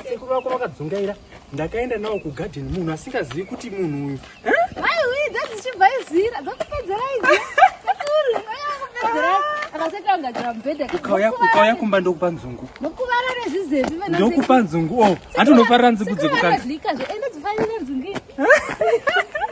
sekuru vako vakadzungaira ndakaenda nawo kugadhen munhu asingazivi kuti munhu uyu vaiuidza dzichibva izira dzakupedzera ukauya kumba ndokupa nzungu ndokupa nzungu o oh, hati unofarira nzungu dzekukandika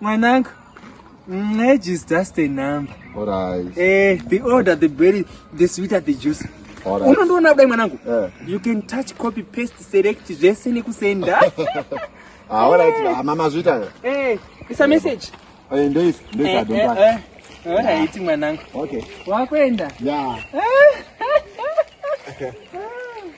Mwanangu, age is just a number. All right. Eh, the older the berry, the sweeter the juice. All right. Unondoona kudai mwanangu. Yeah. You can touch, copy, paste, select zvese nekusenda. Ah, all right. Hey. Mama zvita. Eh, it's a message. Eh, ndois, ndois eh, adonta. Eh, eh. eh. All right, yeah. mwanangu. Okay. Wakwenda? Yeah. Eh.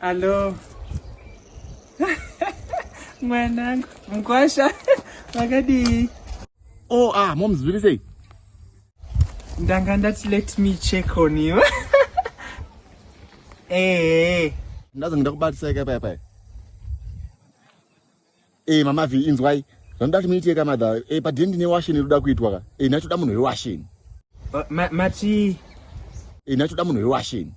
Hello. Mwanangu, mkwasha, wakadii? Oh, ah, mom, zviri sei? Ndanga ndati let me check on you. Eh. Ndazo ndakubatiseka paya paya. Eh mama vi inzwai. Vanoda kuti muite ka mother. Eh pa dindi ne washen inoda kuitwa ka. Eh nacho da munhu we washen. Uh, ma mati Eh nacho da munhu we washen.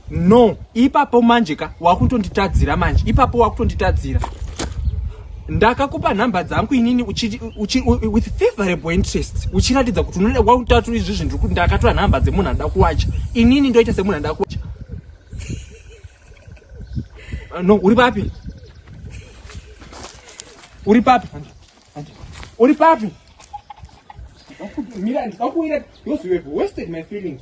No, ipapo manje ka wakutonditadzira manje. Ipapo wakutonditadzira. Ndakakupa nhamba dzangu inini uchi, uchi, with favorable interest uchiratidza kuti unoda kwakutatu izvi zvinhu ndakatora nhamba dzemunhu anoda kuwacha inini ndoita semunhu anoda kuwacha Ah, no uri papi uri papi uri papi mira ndikakuwira because you have wasted my feelings